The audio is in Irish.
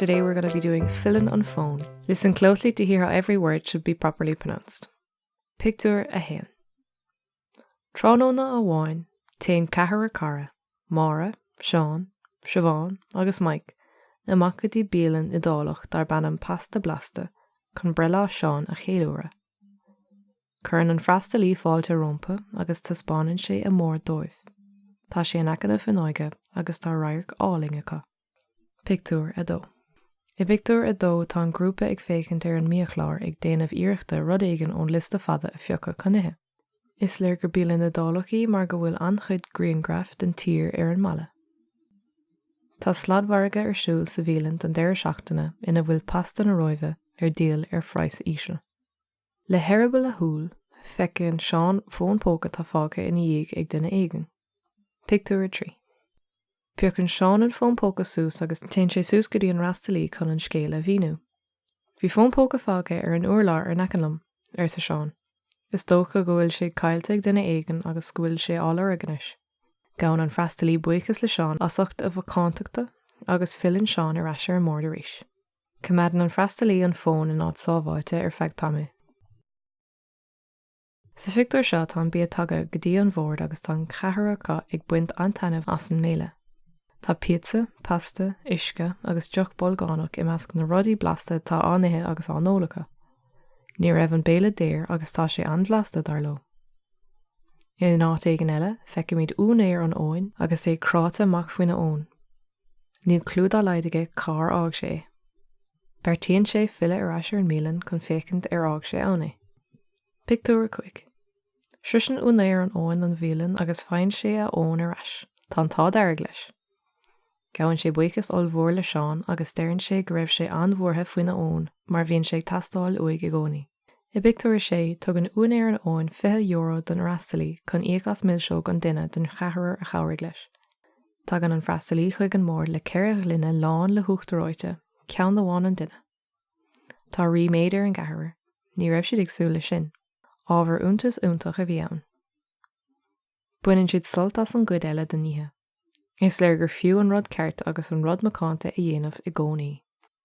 Today we're going to be doing Filleann an Fón. Listen closely to hear how every word should be properly pronounced. Pictiúr a haon. Tráthnóna amháin, téann ceathrar cara, Máire, Seán, Siobhán agus Mike, amach go dtí bialann Iodálach darb ainm Pasta Blasta chun breithlá Sheáin a cheiliúradh. Cuireann an freastalaí fáilte rómpu agus taispeánann sé a mbord dóibh. Tá sé in aice na fuinneoige agus tá radharc álainn acu. Pictiúr 2 I bpictiúr a dó tá an grúpa ag féachaint ar an mbiachlár ag déanamh iarrachta rud éigin ón liosta fada a phiocadh chun ithe. Is léir gur bialann Iodálach í mar go bhfuil an-chuid grianghraif den tír ar an mballa. Tá sladmhargadh ar siúl sa bhialann don deireadh seachtaine ina bhfuil pasta na Róimhe ar díol ar phraghas íseal. Le heireaball a shúile, feiceann Seán fón póca atá fágtha ina dhiaidh ag duine éigin. Pictiúr 3 Piocann Seán an fón póca suas agus téann sé suas go dtí an freastalaí chun an scéal a mhíniú. Bhí fón póca fágtha ar an urlár in aice liom, arsa Seán. Is dócha go bhfuil sé caillte ag duine éigin agus go bhfuil sé á lorg anois. Gabhann an freastalaí buíochas le Seán as ucht a mhacántachta agus filleann Seán ar ais ar an mbord arís. Coimeádann an freastalaí an fón in áit sábháilte ar feadh tamaill. Sa phictiúr seo tá an bia tagtha go dtí an bhord agus tá an ceathrar acu ag baint an-taitneamh as an mbéile. Tá píotsa, pasta, uisce agus deoch bolgánach i measc na rudaí blasta atá á n-ithe agus á n-ól acu. Ní raibh an béile daor agus tá sé an-bhlasta, dar leo. In áit éigin eile, feicimid úinéir an fhóin agus é cráite amach faoina fhón. Níl cliú dá laghad aige cár fhág sé é. Beartaíonn sé filleadh ar ais ar an mbialann chun féachaint ar fhág sé ann é. Pictiúr 5 Sroiseann úinéir an fhóin an bhialann agus faigheann sé a fhón ar ais. Tá an t-ádh dearg leis. Gabhann sé buíochas ollmhór le Seán agus deireann sé go raibh sé an-bhuartha faoina fhón mar bhíonn sé ag teastáil uaidh i gcónaí. I bpictiúr a sé, tugann úinéir an fhóin €20 don fhreastalaí chun íoc as milseog an duine den cheathrar a chabhraigh leis. Tagann an freastalaí chuig an mbord le ceithre ghloine lán le huachtar reoite, ceann amháin an duine. Tá ríméad ar an gceathrar, ní raibh siad ag súil leis sin. Ábhar iontais iontach a bhí ann. Baineann siad sult as an gcuid eile den oíche. Is léir gur fiú an rud ceart agus an rud macánta a dhéanamh i gcónaí.